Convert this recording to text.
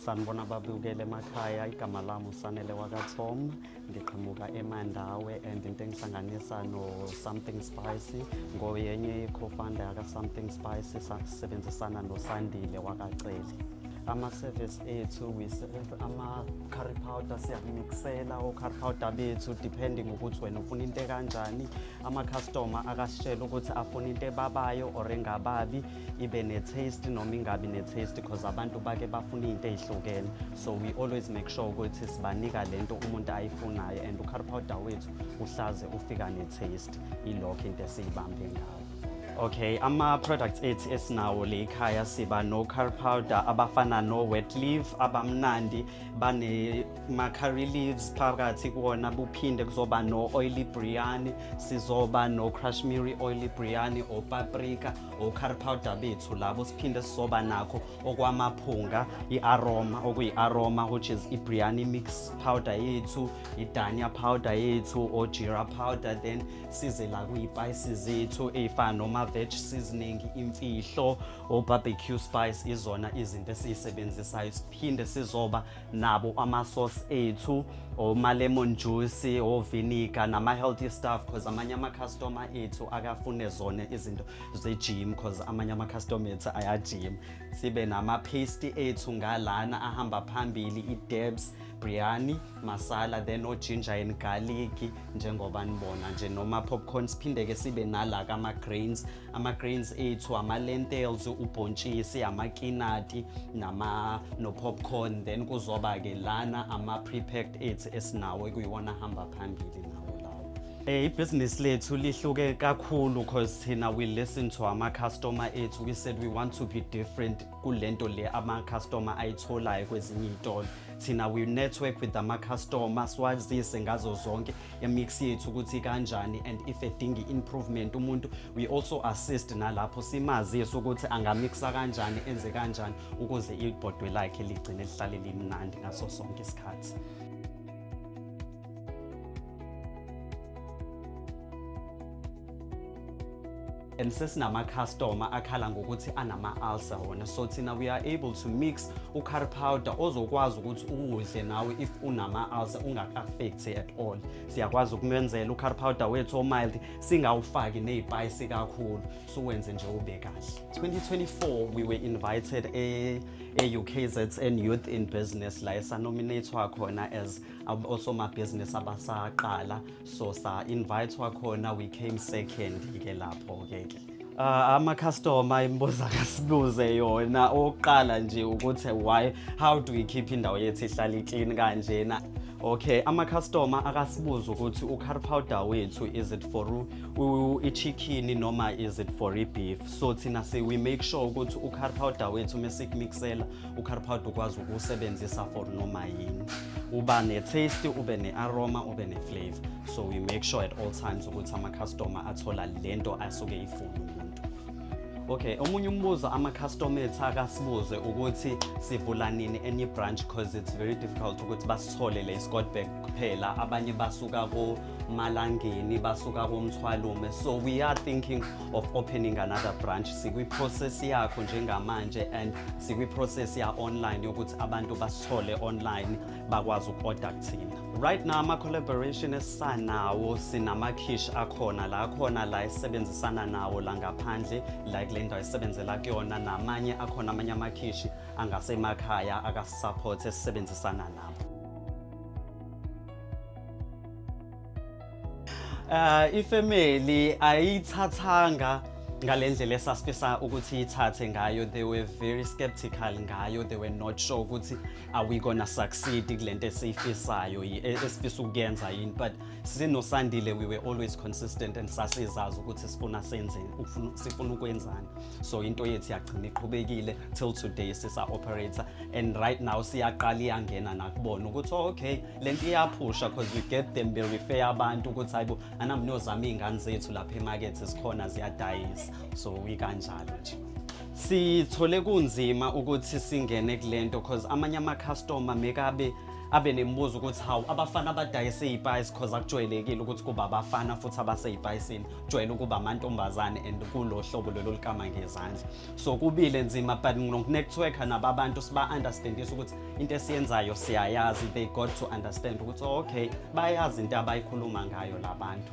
sanibona babukele emakhaya igama lami usanele wakathom ndiqhamuka emandawe and into engisanganisa no-something spicy ngoyenye i-cofounder yaka-something spicy sisebenzisana nosandile wakaceli ama-service ethu ama-curry powder siyakumiksela o-curry powder bethu depending ukuthi wena ufuna into ekanjani ama-customer akasitshela ukuthi afuna into ebabayo or engababi ibe ne-taste noma ingabi ne-taste because abantu bake bafuna izinto ezihlukene so we always make sure ukuthi sibanika le nto umuntu ayifunayo and ucar powder wethu uhlaze ufika ne-taste ilokho into esiyibambe ngayo Okay, ama-products ethi esinawo le ekhaya siba no-car powder abafana no-wet leaf abamnandi banema-curry leaves phakathi kuwona buphinde kuzoba no-oily briani sizoba no-crashmiri oily briani opaprika o-curry powder bethu labo siphinde sizoba nakho okwamaphunga i-aroma okuyi-aroma which is i-briani mix powder yethu i-dania powder yethu o-jira powder then size la kuyipayisi zethu ey'fana noma-veg seasoning imfihlo o-barbecue spice izona izinto esiyisebenzisayo siphinde sizoba nabo ama-sauce ethu oma-lemon juice oviniga nama-healthy stuff because amanye ama-customer ethu akafune zona izinto ze-gym because amanye ama-customer ethu ayajima sibe nama-paste ethu ngalana ahamba phambili i-debs biryani masala then ojinja and garlic njengoba nibona nje noma popcorn siphinde-ke sibe nala kama-grains ama-grains ethu ama-lentels ubhontshisi amakinati nama no-popcorn then kuzoba-ke lana ama-prepacked ethu esinawo ekuyiwona ahamba phambili nawo lawo Eh ibhizinisi lethu lihluke kakhulu because thina we listen to ama customer ethu we said we want to be different kulento le ama customer ayitholayo kwezinye izitolo thina we network with ama customer swazise ngazo zonke yemix yethu ukuthi kanjani and if edinga i-improvement umuntu we also assist nalapho simazise ukuthi angamixa kanjani enze kanjani ukuze ibhodwe lakhe ligcine lihlale limnandi ngaso sonke isikhathi and sesinamakhastoma akhala ngokuthi anama-ulcer wona so thina we are able to mix ucar powder ozokwazi ukuthi uwudle nawe if unama-ulcer ungaka-affecti at all siyakwazi ukumenzela ucar powder wethu omild singawufaki ney'payisi kakhulu suwenze nje ube kahle 2024 we were invited e, e-ukzn youth in business la esanominatwa khona as osomabhizinisi abasaqala so sa invite wakhona we came second ke lapho ke ke Uh, ama-customer imibuza kasibuze yona owokuqala nje ukuthi why how do we keep indawo yethu ihlale iclean kanjena okay ama-customer akasibuza ukuthi u-car powder wethu is it for i-chicken noma is it for i-beef so thina si we make sure ukuthi u-car powder wethu uma sikumixela ucarpowd ukwazi ukuwusebenzisa for noma yini uba ne-taste ube ne-aroma ube ne-flavor so we make sure at all times ukuthi ama-customer athola le nto asuke ifuna umuntu okay omunye umbuzo ama-customer ethu akasibuze ukuthi sivula nini enye branch because it's very difficult ukuthi basithole le scotberg kuphela abanye basuka komalangeni basuka komthwalume so we are thinking of opening another branch sikwiprocess yakho njengamanje and sikwiprocess ya online yokuthi abantu basithole online bakwazi uku-order kuthina right now ama-collaboration esisanawo sinama-kish akhona la khona la esisebenzisana nawo la ngaphandle la kule ndawo esisebenzela kuyona namanye akhona amanye amakhishi angasemakhaya akasisaphothi esisebenzisana nabo Uh, ifamily ayithathanga ngale ndlela esasifisa ukuthi ithathe ngayo they were very skeptical ngayo they were not sure ukuthi are we gonna succeed kule nto esiyifisayo e, esifisa ukuyenza yini but sinosandile we were always consistent and sasizazi ukuthi sifuna senzeni sifuna ukwenzani so into yethu yagcina iqhubekile till today sisa-operator and right now siyaqala iyangena nakubona ukuthi oh, okay le nto iyaphusha because we get them berefer abantu ukuthi hayibo anamnozama iy'ngane zethu lapha emakethe zikhona ziyadayisa so ikanjalo nje sithole kunzima ukuthi singene kule nto because amanye amakhastoma mekabe abe nemibuzo ukuthi hawu abafana abadayise iy'payisi because akujwayelekile ukuthi kuba abafana futhi abasey'payisini kujwayele ukuba amantombazane and kulo hlobo lelo likama ngezandla so kubile nzima but nokunetworka nabo abantu siba-understandisa ukuthi into esiyenzayo siyayazi they got to understand ukuthi oh, okay bayazi into abayikhuluma ngayo labantu